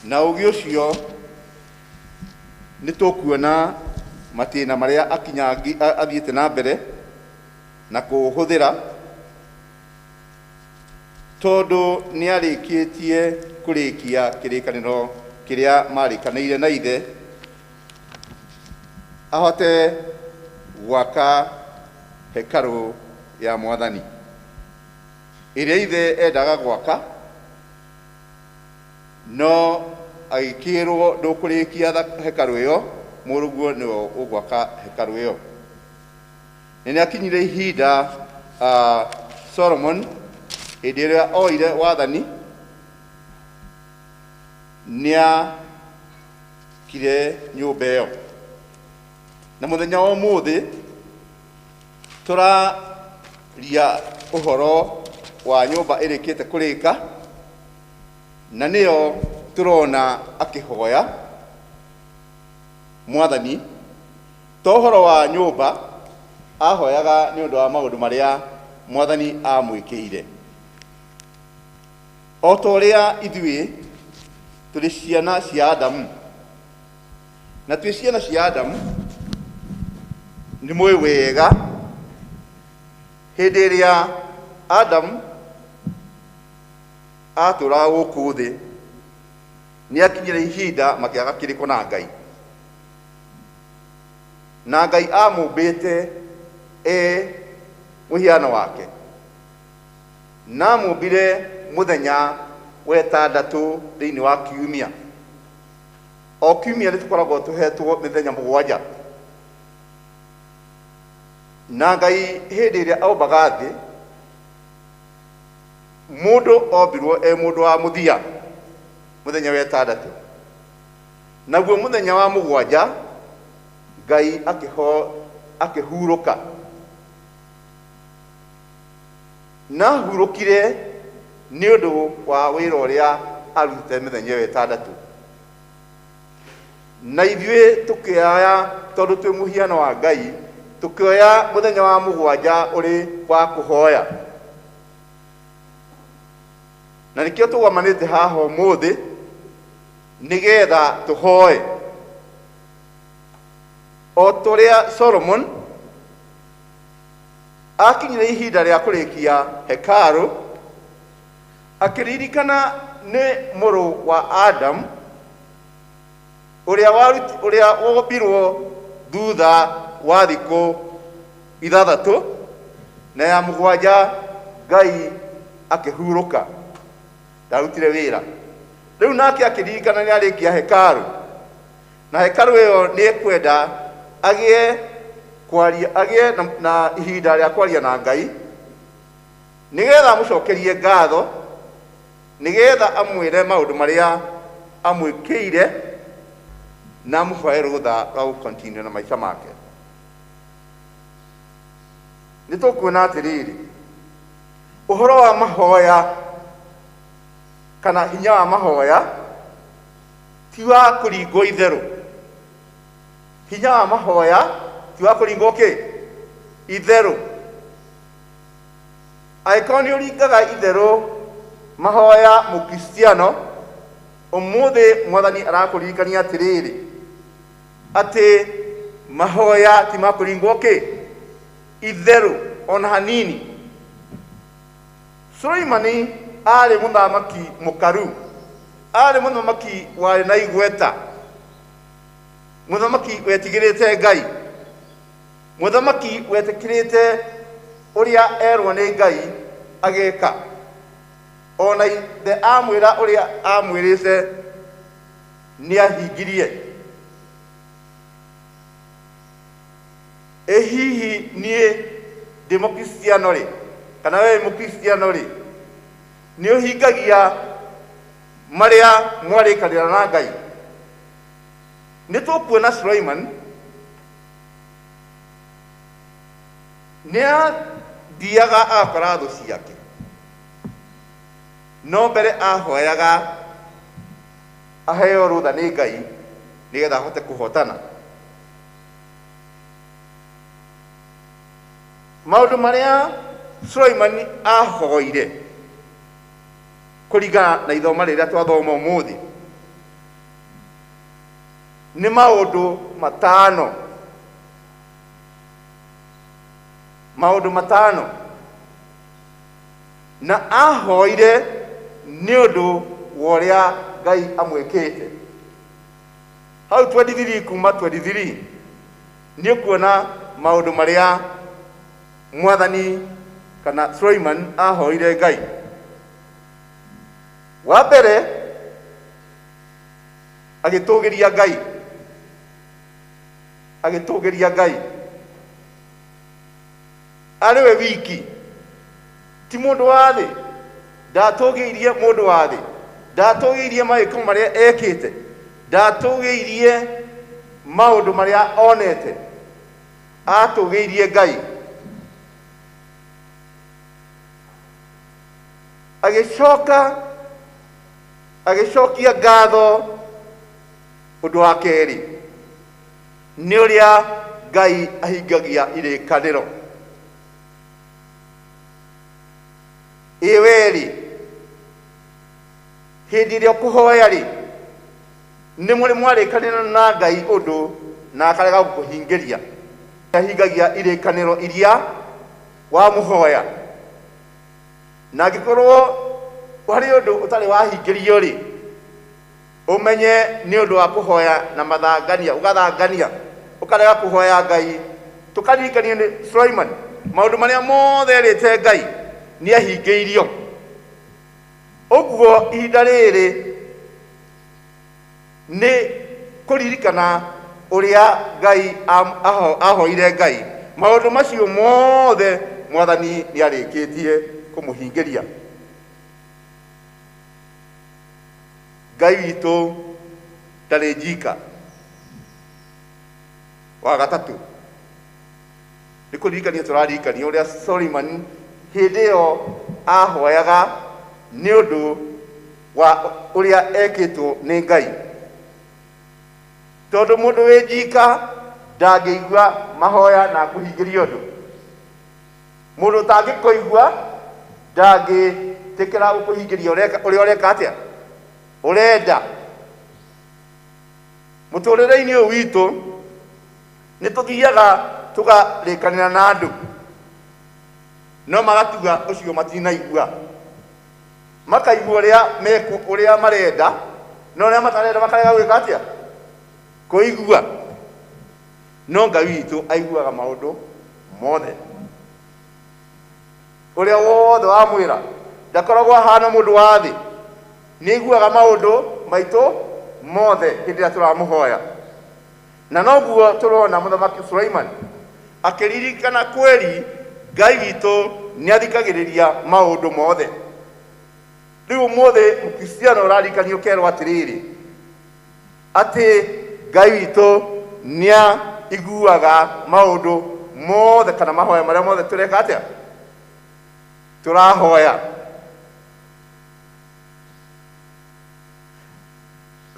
Na ũgĩ ũcio nĩ tũkuona matĩna marĩa akinyangi a- athiĩte na mbere na kũũhũthĩra tondũ nĩ arĩkĩtie kũrĩkia kĩrĩkanĩro kĩrĩa marĩkanĩire na ithe ahote gwaka hekarũ ya mwathani Ĩrĩa ithe endaga gwaka, no agĩkĩĩrũo ndũkũrĩkia hekarũ ĩyo, mũrũguo nĩwe ũgwaka hekarũ ĩyo. Na nĩ akinyire ihinda Solomoni, hĩndĩ ĩrĩa oire wathani, nĩ aakire nyũmba ĩyo. Na mũthenya wa ũmũthĩ, Tũraria ũhoro wa nyũmba ĩrĩkĩte kũrĩka, na nĩyo tũrona akĩhoya Mwathani. To ũhoro wa nyũmba ahoyaga nĩ ũndũ wa maũndũ marĩa Mwathani amwĩkĩire. O ta ũrĩa ithuĩ tũrĩ ciana cia Adamu. Na twĩ syana sya Adamu, nĩmũĩ wĩĩga hĩndĩ ĩrĩa Adamu atũũraga gũkũ thĩ, nĩakinyire ihinda makĩaga kĩrĩko na Ngai. Na Ngai amũmbĩte e mũhiano wake, na amũmbire mũthenya wetandatũ thĩinĩ wa kiumia. O kiumia nĩ tũkoragwo tũhetwo mĩthenya mũgwanja, na Ngai hĩndĩ ĩrĩa aumbaga thĩ, mũndũ ombirwo e mũndũ wa mũthia mũthenya wetandatũ, naguo mũthenya wa mũgwanja Ngai akĩho akĩhurũka. Na hurũkire nĩ ũndũ wa wĩra ũrĩa arutĩte mĩthenya ĩyo ĩtandatũ. Na ithuĩ tũkĩoya, tondũ twĩ mũhiano wa Ngai, tũkĩoya mũthenya wa mũgwanja ũrĩ wa kũhoya. Na nĩkĩo tũgomanĩte haha ũmũthĩ nĩgetha tũhoe o tũrĩa Solomon Aakinyire ihinda rĩa kũrĩkia hekarũ, akĩririkana nĩ mũrũ wa Adamu ũrĩa waruti- ũrĩa wombirwo thutha wa thikũ ithathatũ na ya mũgwanja Ngai akĩhurũka, ndarutire wĩra. Rĩu nake akĩririkana nĩ arĩkia hekarũ, Na hekarũ ĩyo nĩ ĩkwenda agĩe kwaria, agĩe na, na ihinda rĩa kwaria na Ngai nĩgetha amũcokerie ngatho, nĩgetha amwĩre maũndũ marĩa amwĩkĩire na amũhoe rũtha rwa gũkontinio na maica make. Nĩ tũkuona atĩrĩrĩ, ũhoro wa mahoya kana hinya wa mahoya Ti wa kũringwo itherũ. Hinya wa mahoya ti wa kũringwo kĩ? Itherũ. Angĩkorwo nĩ ũringaga itherũ mahoya Mũkristiano, ũmũthĩ Mwathani arakũririkania atĩrĩrĩ, atĩ mahoya ti ma kũringwo kĩ? Itherũ o na hanini. Suleimani aarĩ mũthamaki mũkaru. Aarĩ mũthamaki warĩ na igweta, mũthamaki wetigĩrĩte Ngai, mũthamaki wetĩkĩrĩte ũrĩa erwo nĩ Ngai ageka. O na ithe amwĩra ũrĩa amwĩrĩte nĩahingirie. Ĩ hihi niĩ ndĩ Mũkristiano-rĩ, kana wee wĩ Mũkristiano-rĩ, nĩ ũhingagia marĩa mwarĩkanĩra na Ngai? Nĩ tũkuona Sulaiman nĩ athiaga agakora thũ ciake, no mbere ahoyaga aheo rũtha nĩ Ngai nĩgetha ahote kũhotana. maundu maria Sulaimani ahoire kuringana na ithoma riria twathoma umuthi ni maundu matano maundu matano na ahoire ni undu wa uria ngai amwikite Hau 23 kuma 23 nĩ kuona maũndũ marĩa mwathani kana Suleiman ahoire Ngai. Wa mbere agĩtũgĩria Ngai, agĩtũgĩria Ngai arĩ we wiki, ti mũndũ wa thĩ, ndatũgĩirie mũndũ wa thĩ, ndatũgĩirie mawĩko marĩa ekĩte, ndatũgĩirie maũndũ marĩa onete, atũgĩirie Ngai. Agĩcoka agĩcokia ngatho ũndũ wa kerĩ. Nĩ ũrĩa Ngai ahingagia irĩkanĩro. Ĩ wee-rĩ, hĩndĩ ĩrĩa ũkũhoya-rĩ, nĩ mũrĩ mwarĩkanĩra na Ngai ũndũ na akarega gũkũhingĩria? Nĩ ahingagia irĩkanĩro iria wamũhoya. Na angĩkorwo harĩ ũndũ ũtarĩ wahingĩrio-rĩ. Ũmenye nĩ ũndũ wa kũhoya na mathangania, ũgathangania, ũkarega kũhoya Ngai. Tũkaririkanie nĩ Sulaiman, maũndũ marĩa mothe erĩte Ngai nĩ ahingĩirio. Ũguo ihinda rĩrĩ nĩ kũririkana ũrĩa Ngai ahoire Ngai, maũndũ macio mothe Mwathani nĩ arĩkĩtie kũmũhingĩria. ngai witũ ndarĩ njika wa gatatũ nĩ kũririkania tũraririkania ũrĩa solimani hĩndĩ ĩyo ahoyaga nĩ ũndũ wa ũrĩa ekĩtwo nĩ ngai tondũ mũndũ wĩ njika ndangĩigua mahoya na kũhingĩria ũndũ Mũndũ ũtangĩkũigua ndangĩtĩkĩra gũkũhingĩria ũreka- ũrĩa ũreka atĩa? Ũrenda. Mũtũrĩre-inĩ ũyũ witũ, nĩ tũthiaga tũkarĩkanĩra na andũ, no magatuga ũcio matinaigua. Makaigua ũrĩa meku ũrĩa marenda, no ũrĩa matarenda makarega gwĩka atĩa? Kũigua. No Ngai witũ aiguaga maũndũ mothe. Ũrĩa wothe wamwĩra ndakoragwo ahaana mũndũ wa thĩ. Nĩ aiguaga maũndũ maitũ mothe hĩndĩ ĩrĩa tũramũhoya. Na noguo tũrona Mũthamaki Sulaiman akĩririkana kweri Ngai witũ nĩ athikagĩrĩria maũndũ mothe. Rĩu ũmũthĩ Mũkristiano ũraririkania ũkerwo atĩrĩrĩ, Atĩ Ngai witũ nĩaiguaga maũndũ mothe kana mahoya marĩa mothe tũreka atĩa? Tũrahoya.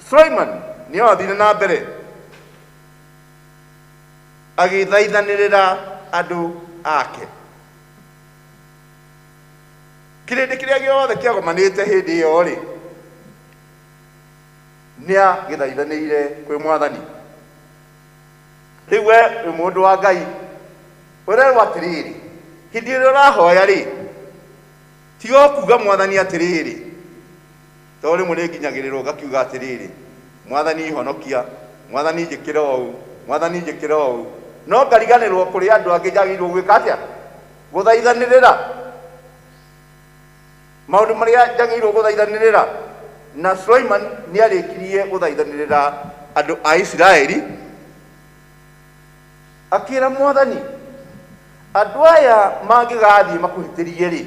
Sulaiman nĩoathire na mbere agĩthaithanĩrĩra andũ ake. Kĩrĩndĩ kĩrĩa gĩothe kĩagomanĩte hĩndĩ ĩyo-rĩ, Nĩagĩthaithanĩire kwĩ Mwathani. Rĩu we wĩ mũndũ wa Ngai, ũrerwo atĩrĩrĩ, hĩndĩ ĩrĩa ũrahoya-rĩ, tiga o kuga Mwathani atĩrĩrĩ, tondũ rĩmwe nĩnginyagĩrĩrwo ngakiuga atĩrĩrĩ, Mwathani honokia, Mwathani njĩkĩra ũũ, Mwathani njĩkĩra ũũ. No ngariganĩrwo kũrĩ andũ angĩ njagĩrĩirwo gwĩka atĩa? Gũthaithanĩrĩra. Maũndũ marĩa njagĩrĩirũo gũthaithanĩrĩra. Na Sulaiman nĩ aarĩkirie gũthaithanĩrĩra andũ a Isiraeli, akĩra Mwathani, Andũ aya mangĩgaathiĩ makũhĩtĩrie-rĩ,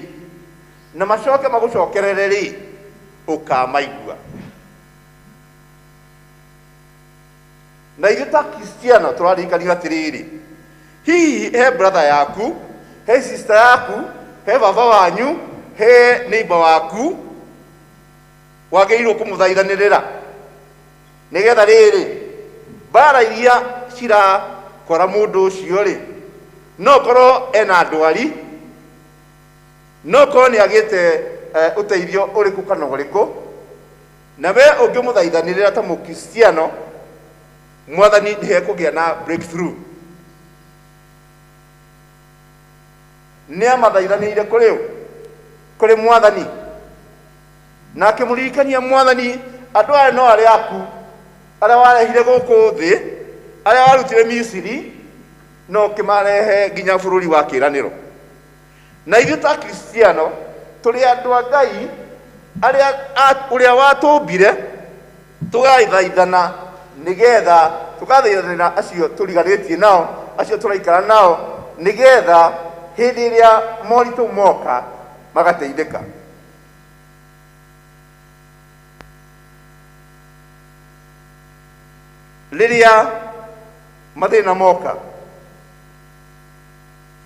na macoke magũcokerere-rĩ, ũkaamaigua. Na ithuĩ ta Akristiano tũrarikanio atĩrĩrĩ, hihi he brother yaku, he sister yaku, he baba wanyu, he neighbor waku wagĩrĩirwo kũmũthaithanĩrĩra? Nĩgetha rĩrĩ, mbara iria cirakora mũndũ ũcio-rĩ, no ũkorwo ena ndwari, no ũkorwo nĩagĩte ũteithio ũrĩkũ kana ũrĩkũ, Na wee ũngĩmũthaithanĩrĩra ta Mũkristiano, Mwathani nĩ ekũgĩa na breakthrough. Nĩ amathaithanĩire kũrĩ ũ? Kũrĩ Mwathani. Na akĩmũririkania Mwathani, andũ aya no arĩa aku, arĩa warehire gũkũ thĩ, arĩa warutire Misiri, na ũkĩmarehe nginya bũrũri wa kĩĩranĩro. Na ithuĩ ta Akristiano tũrĩ andũ a Ngai arĩa a, ũrĩa watũmbire, tũgathaithana nĩgetha, tũgathaithanĩra acio tũriganĩtie nao, acio tũraikara nao, nĩgetha hĩndĩ ĩrĩa moritũ moka magateithĩka. Rĩrĩa mathĩna moka.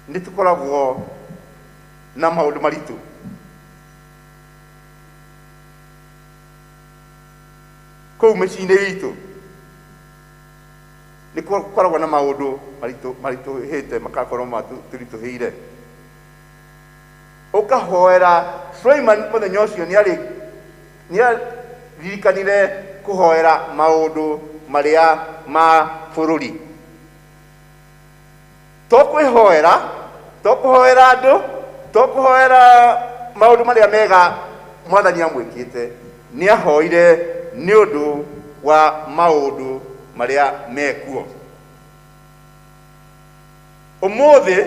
Nĩ tũkoragwo na maũndũ maritũ. Kũu mĩciĩ-inĩ itũ nĩ gũkoragwo na maũndũ maritũ maritũhĩte makakorwo matũritũhĩire. Ũkahoera, Suleiman mũthenya ũcio nĩ aririkanire kũhoera maũndũ marĩa ma bũrũri. Tokwĩhoera, tokũhoera andũ, tokũhoera maũndũ marĩa mega Mwathani amwĩkĩte. Nĩahoire nĩ ũndũ wa maũndũ marĩa mekuo. Ũmũthĩ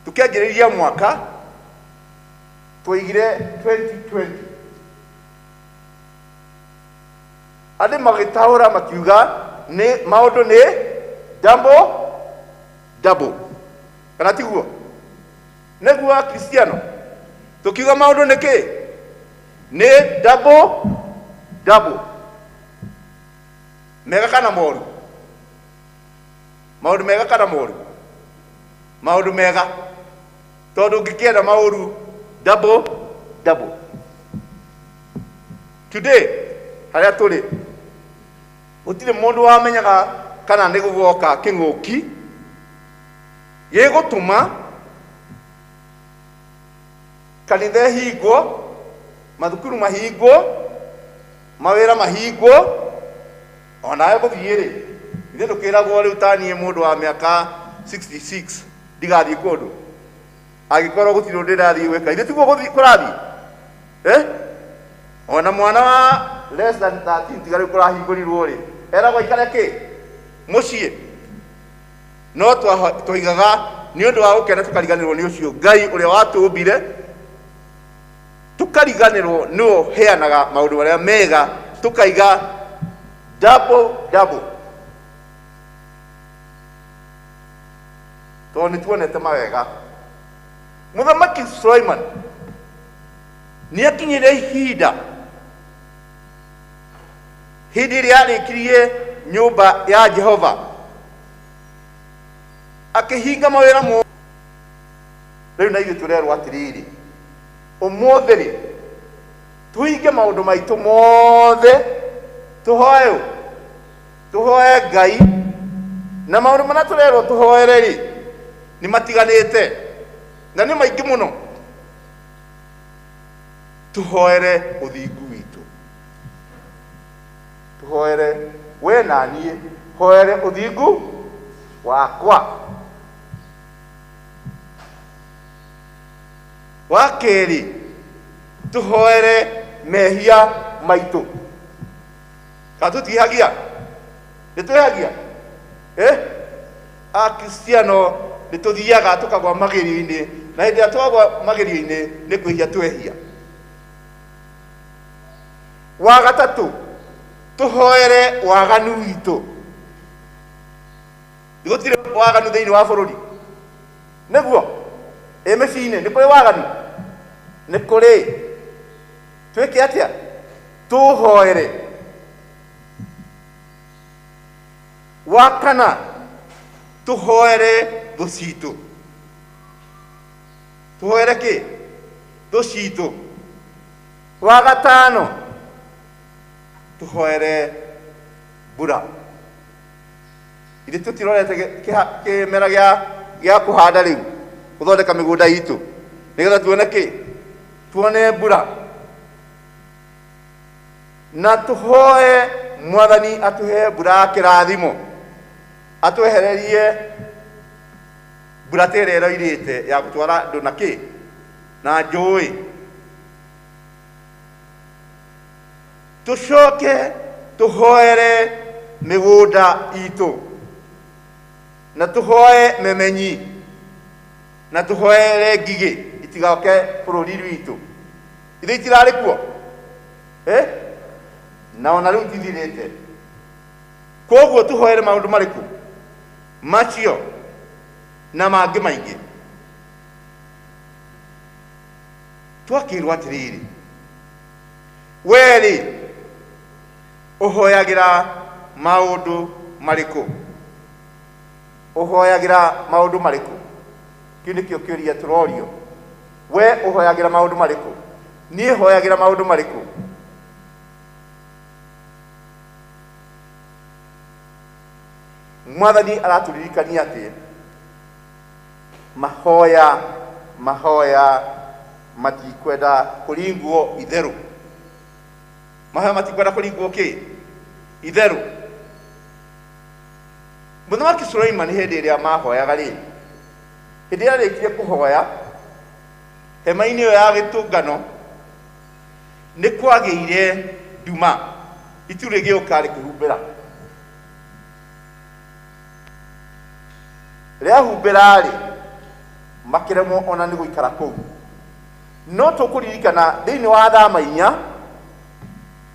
tũkĩanjĩrĩria mwaka twaigire 2020. Andũ magĩtaũra makiuga nĩ maũndũ nĩ double double, kana tiguo? Nĩguo Akristiano tũkiuga maũndũ nĩ kĩ? Nĩ double double, mega kana moru? Maũndũ mega kana moru? Maũndũ mega, tondũ ũngĩkĩenda maũru double double. Today, harĩa tũrĩ, gũtirĩ mũndũ wamenyaga kana nĩ gũgoka kĩng'ũki gĩgũtũma kanitha ĩhingwo, mathukuru mahingwo, mawĩra mahingwo, o nawe gũthiĩ-rĩ, ithuĩ tũkĩragwo rĩu ta niĩ mũndũ wa mĩaka 66 ndigathiĩ kũndũ? Angĩkorwo gũtirĩ ũndũ ndĩrathiĩ gwĩka, githĩ tiguo gũthiĩ kũrathiĩ? Eh? O na mwana wa less than 13 tiga rĩu kũrahingũrirwo-rĩ, eragwo aikare kĩ? Mũciĩ. No twa- twaigaga nĩ ũndũ wa gũkena tũkariganĩrwo nĩ ũcio Ngai ũrĩa watũmbire, tũkariganĩrwo nĩwe ũheanaga maũndũ marĩa mega, tũkaiga double double. tondũ nĩ tuonete mawega mũthamaki Sulaiman nĩ akinyire ihinda hĩndĩ ĩrĩa arĩkirie nyũmba ya jehova akĩhinga mawĩra mo rĩu na ithuĩ tũrerwo atĩrĩrĩ ũmũthĩ rĩ tũhinge maũndũ maitũ mothe tũhoe ũ tũhoe ngai na maũndũ marĩa tũrerwo tũhoere rĩ nĩ matiganĩte na nĩ maingĩ mũno tũhoere ũthingu witũ tũhoere we na niĩ hoere ũthingu wakwa wa kerĩ tũhoere mehia maitũ kana tũtiĩhagia nĩ twĩhagia eh? akristiano nĩ tũthiaga tũkagwa magerio-inĩ na hĩndĩ ĩrĩa twagwa magerio-inĩ nĩ kwĩhia twehia wa gatatũ tũhoere waganu witũ Nĩ gũtirĩ waganu thĩinĩ wa bũrũri nĩguo ĩ mĩciĩ-inĩ nĩ kũrĩ waganu nĩ kũrĩ twĩke atĩa Tũũhoere. Wa kana, tũhoere thũ citũ. Tũhoere kĩ? Thũ citũ. Wa gatano, tũhoere mbura. Ithe tũtirorete gĩ- kĩha- kĩmera gĩa- gĩa kũhanda rĩu gũthondeka mĩgũnda itũ nĩgetha tuone kĩ? Tuone mbura. na tũhoe mwathani atũhe mbura ya kĩrathimo atwehererie mbura ta ĩrĩa ĩroirĩte ya gũtwara andũ na kĩ na njũĩ tũcoke tũhoere mĩgũnda itũ na tũhoe memenyi na tũhoere ngigĩ itigoke bũrũri witũ ithe itirarĩ kuo Eh? na ona rĩu tithirĩte koguo tũhoere maũndũ marĩkũ macio na mangĩ maingĩ twakĩrwo atĩrĩrĩ werĩ ũhoyagĩra maũndũ marĩkũ ũhoyagĩra maũndũ marĩkũ kĩu nĩkĩo kĩũria tũrorio Wee ũhoyagĩra maũndũ marĩkũ? Niĩ hoyagĩra maũndũ marĩkũ? Mwathani aratũririkania atĩ mahoya mahoya matikwenda kũringwo itherũ. Mahoya matikwenda kũringwo kĩ? Itherũ. Mũthamaki Suleimani hĩndĩ ĩrĩa mahoyaga rĩ, Hĩndĩ yarĩkirie kũhoya hema-inĩ ĩyo ya gĩtũngano, nĩ kwagĩire nduma, itu rĩgĩũka rĩkĩhumbĩra. Rĩahumbĩra-rĩ, makĩremwo ona nĩ gũikara kũu. No tũkũririkana thĩinĩ wa Athama inya,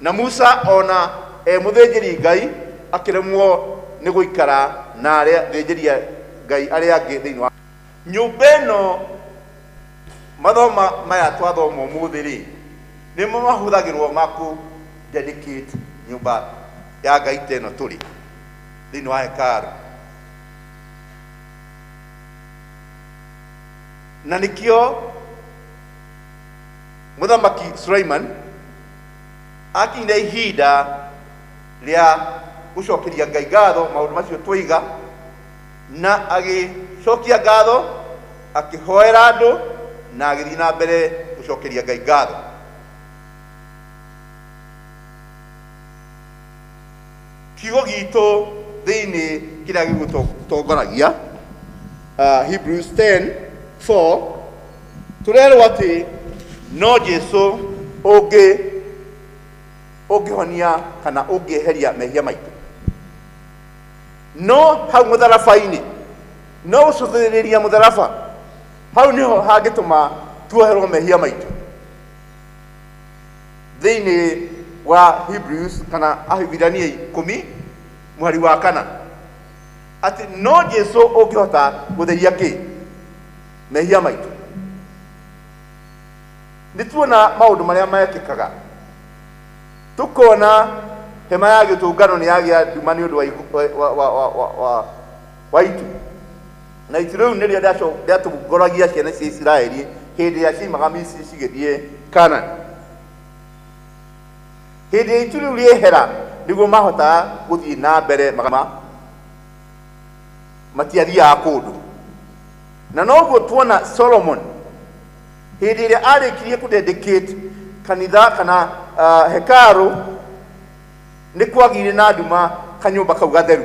Na Musa o na e mũthĩnjĩri Ngai akĩremwo nĩ gũikara na arĩa thĩnjĩri Ngai arĩa angĩ thĩinĩ wa. Nyũmba ĩno. Mathoma maya twathoma ũmũthĩ rĩ, nĩmo mahũthagĩrwo ma kũ dedicate nyũmba ya Ngai ta ĩno tũrĩ thĩinĩ wa hekaarũ. Na nĩkĩo Mũthamaki Suleiman. akinyire ihinda rĩa gũcokeria ngai ngatho maũndũ macio twaiga na agĩcokia ngatho akĩhoera andũ na agĩthiĩ na mbere gũcokeria ngai ngatho Kiugo gitũ thĩinĩ kĩrĩa gĩgũtongoragia uh, Hebrews 10 4 tũrerwo atĩ no Jesu ũngĩ ũngĩhonia kana ũngĩeheria mehia maitũ no hau mũtharaba-inĩ no gũcũthĩrĩria mũtharaba hau nĩho hangĩtũma tuoherwo mehia maitũ thĩinĩ wa hebrews kana ahibirania ikũmi mũhari wa kana atĩ no jesu ũngĩhota gũtheria kĩ mehia maitũ nĩ tuona maũndũ marĩa mekĩkaga tũkona hema ya gĩtũngano nĩ yagĩa nduma nĩ ũndũ wa, ihu- wa, wa, wa, wa, wa Waitu. Na ici rĩu nĩrĩo rĩaco- rĩatongoragia ciana cia Isiraeli hĩndĩ ĩrĩa ciaimaga Misiri cigĩthiĩ Kaanani. Hĩndĩ ĩrĩa itu rĩu rĩehera nĩguo mahotaga gũthiĩ na mbere magama, matiathiaga kũndũ. Na noguo tuona Solomon hĩndĩ ĩrĩa arĩkirie kũdedicate kanitha kana uh, hekaru nĩ kwagĩire na nduma kanyũmba kau gatheru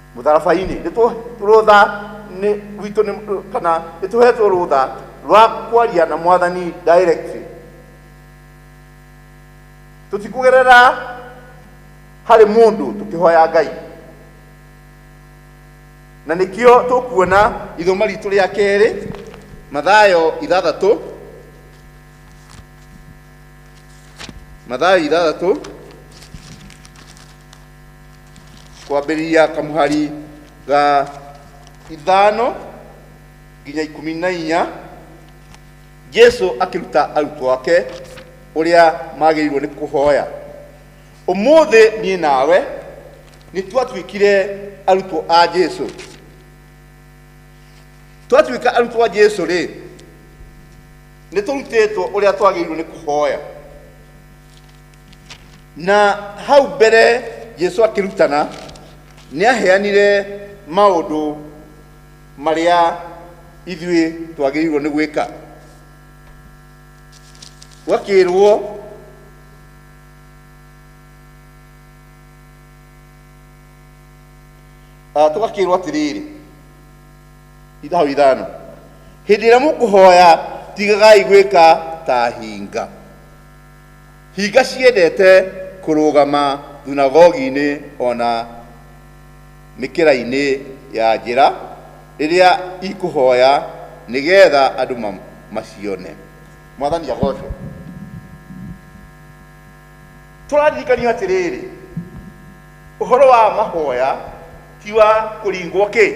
Mũtharabainĩ nĩ tũ rũtha nĩ witũ nĩ kana nĩ tũhetwo rũtha rwa kwaria na mwathani directly tũtikũgerera harĩ mũndũ tũkĩhoya ngai na nĩkĩo tũkuona ithoma ritũ rĩa kerĩ mathayo ithathatũ mathayo ithathatũ kwambĩrĩria kamũhari ga ithano nginya ikũmi na inya jesu akĩruta arutwo ake ũrĩa magĩrĩirwo nĩ kũhoya ũmũthĩ niĩ nawe nĩ twatuĩkire arutwo a jesu twatuĩka arutwo a jesu rĩ nĩ tũrutĩtwo ũrĩa twagĩrĩirwo nĩ kũhoya na hau mbere jesu akĩrutana nĩ aheanire maũndũ marĩa ithuĩ twagĩrĩirwo nĩ gwĩka gwakĩrwo Ah, tũgakĩrwo atĩrĩrĩ ithaũ ithano hĩndĩ ĩrĩa mũkũhoya tigagai gwĩka ta hinga Hinga ciendete kũrũgama thunagogi-inĩ o na mĩkĩra-inĩ ya njĩra rĩrĩa ikũhoya nĩ getha andũ macione. Mwathani agocwo. Tũraririkanio atĩrĩrĩ, ũhoro wa mahoya ti wa kũringwo kĩ?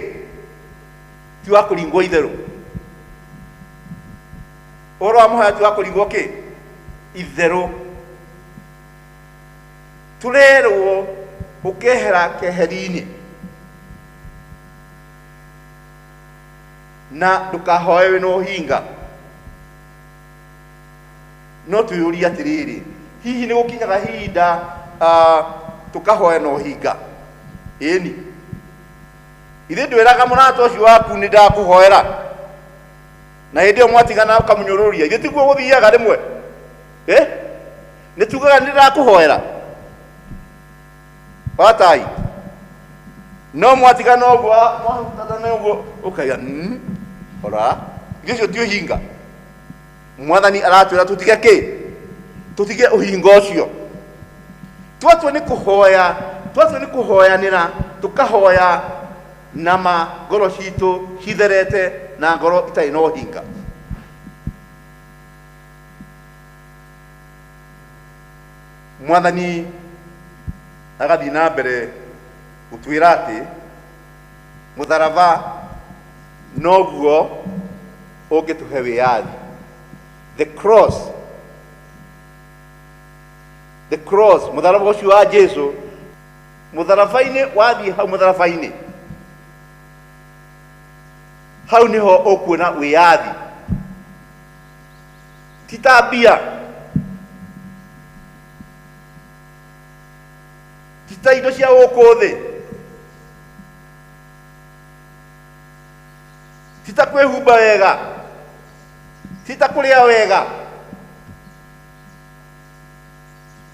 Ti wa kũringwo itherũ. Ũhoro wa mũhaya ti wa kũrigwo kĩ? Itherũ. Tũrerwo ũkehera keheri-inĩ na ndũkahoe wĩ na ũhinga. No twĩyũria atĩrĩrĩ, hihi nĩ gũkinyaga hinda ah, tũkahoya na ũhinga? Ĩni. Ithe ndwĩraga mũrata ũcio waku nĩ ndakũhoera. na hĩndĩ ĩyo mwatigana ũkamũnyũrũria ithuĩ tiguo gũthiaga rĩmwe Eh? nĩ tugaga nĩ ndakũhoera watai no mwatigana ũguo ah, mwahutatana ũguo ũkaiga "Mm, ora ithuĩ ũcio ti ũhinga mwathani aratwĩra tũtige kĩ tũtige ũhinga ũcio twatua nĩ kũhoya twatua nĩ kũhoyanĩra tũkahoya Na ma ngoro ciitũ citherete na ngoro itarĩ na ũhinga. Mwathani agathiĩ na mbere gũtwĩra atĩ mũtharaba noguo ũngĩtũhe wĩyathi. The cross, the cross, mũtharaba ũcio wa Jesu mũtharaba-inĩ wathiĩ hau mũtharaba-inĩ hau nĩho ũkuona wĩyathi ti ta mbia ti ta indo cia gũkũ thĩ ti ta kwĩhumba wega ti ta kũrĩa wega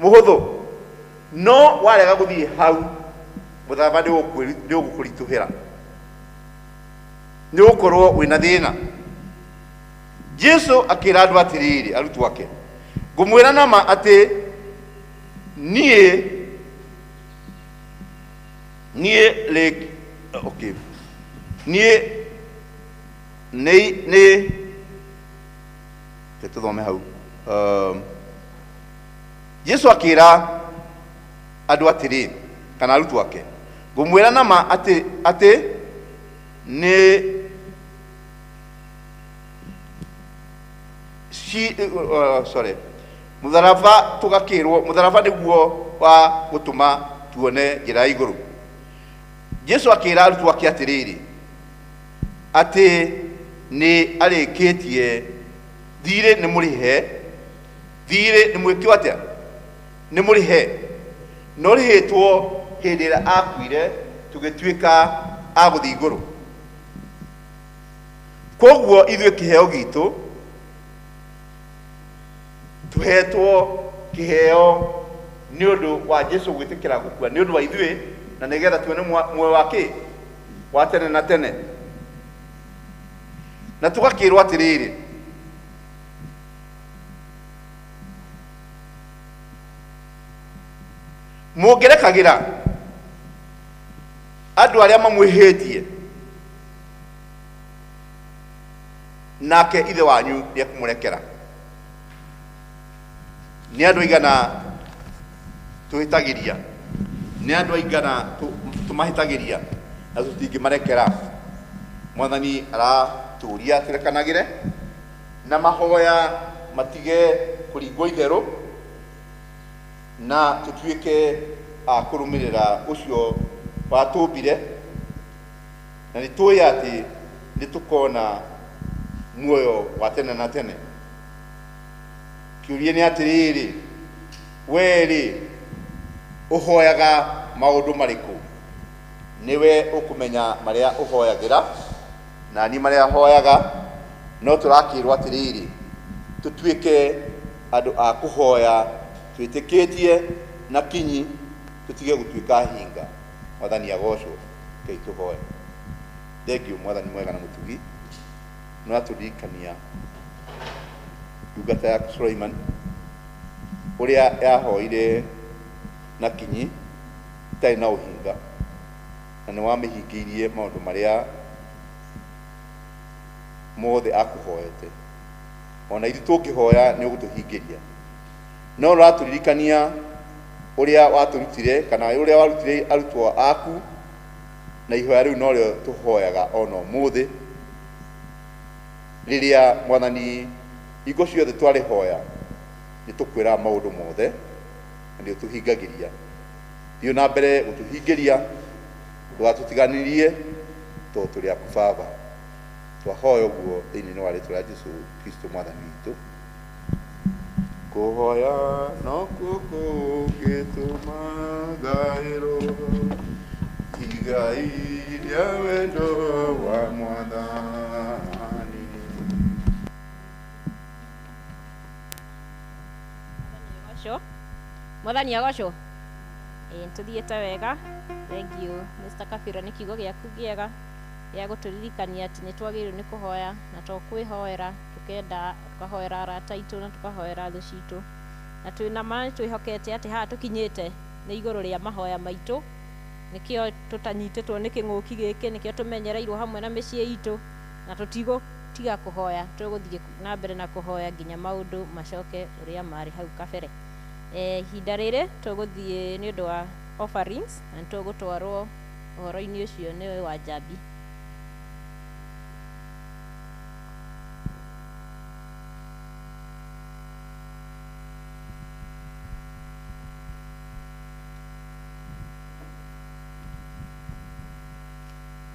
Mũhũthũ. No warega gũthiĩ hau, mũtharaba nĩũgũkũritũhĩra, nĩgũkorwo wĩ na thĩna. Jesu akĩra andũ atĩrĩrĩ, arutwo ake, Ngũmwĩra na ma atĩ, niĩ, niĩ rĩ, okay, niĩ nĩ, nĩ, reke tũthome hau, um, jesu akĩra andũ atĩrĩ kana arutwo ake ngũmwĩra na ma atĩ atĩ nĩ ci uh, sorry mũtharaba tũgakĩrwo mũtharaba nĩguo wa gũtũma tuone njĩra ya igũrũ jesu akĩra arutwo ake atĩrĩrĩ atĩ nĩ arĩkĩtie thirĩ nĩ mũrĩhe Thiirĩ nĩ mwĩkĩo atĩa? Nĩ mũrĩhe. Nĩ orĩhĩtwo hĩndĩ ĩrĩa aakuire tũgĩtuĩka a gũthiĩ igũrũ. Kwoguo ithuĩ kĩheo giitũ, tũheetwo kĩheo nĩ ũndũ wa Jesu gwĩtĩkĩra gũkua nĩ ũndũ wa ithuĩ, na nĩ getha tuone mwa- muoyo wa kĩ? Wa tene na tene. Na tũgakĩĩrwo atĩrĩrĩ, mũngĩrekagĩra andũ arĩa mamwĩhĩtie nake ithe wanyu nĩekũmũrekera nĩ andũ aigana twĩhĩtagĩria nĩ andũ aigana tũ- tũmahĩtagĩria na tũtingĩmarekera mwathani aratũria tũrekanagĩre Na mahoya matige kũringwo itherũ, na tũtuĩke a kũrũmĩrĩra ũcio watũmbire, na nĩ tũĩ atĩ nĩ tũkona muoyo wa tene na tene. Kĩũria nĩ atĩrĩrĩ, wee rĩ, ũhoyaga maũndũ marĩkũ? Nĩwe ũkũmenya marĩa ũhoyagĩra. na niĩ marĩa hoyaga no tũrakĩrwo atĩrĩrĩ tũtuĩke andũ a kũhoya twĩtĩkĩtie na kinyi tũtige gũtuĩka hinga mwathani agocwo kei tũhoe thengiũ mwathani mwega na mũtugi no atũririkania ndungata yaku Suleiman ũrĩa yahoire na kinyi itarĩ na ũhinga Na nĩwamĩhingĩirie maũndũ marĩa mothe akũhoete. O na ithuĩ tũngĩhoya nĩũgũtũhingĩria. No ũratũririkania ũrĩa watũrutire, kana ũrĩa warutire arutwo aku, na ihoya rĩu norĩo tũhoyaga o na ũmũthĩ. Rĩrĩa, Mwathani, hingo ciothe twarĩhoya, nĩtũkwĩraga maũndũ mothe, na nĩũtũhingagĩria. Thiĩ na mbere gũtũhingĩria, ndũgatũtiganĩrie, tondũ tũrĩ aku Baba. Twahoya ũguo thĩinĩ wa rĩtwa rĩa Jesu Kristo mwathani witũ. Kũhoya nokuo kũngĩtũma gaĩrwo igai rĩa wendo wa mwathani. Gocũ. Mwathani agocũ. Ĩĩ tũthiĩte wega. Thengiũ Mr. Kabira nĩ kiugo gĩaku gĩega gĩa gũtũririkania atĩ nĩ twagĩrĩirwo nĩ kũhoya na to kwĩhoera tũkenda tũkahoera arata aitũ na tũkahoera thũ citũ na twĩ na ma nĩ twĩhokete atĩ haha tũkinyĩte nĩ igũrũ rĩa mahoya maitũ nĩkĩo tũtanyitĩtwo nĩ kĩng'ũki gĩkĩ nĩkĩo tũmenyereirwo hamwe na mĩciĩ itũ na tũtigũtiga kũhoya tũgũthiĩ kũ- na mbere na kũhoya nginya maũndũ macoke ũrĩa marĩ hau kabere. Eh, ihinda rĩrĩ tũgũthiĩ nĩ ũndũ wa offerings na nĩtũgũtwarwo ũhoro-inĩ ũcio nĩ wa njambi.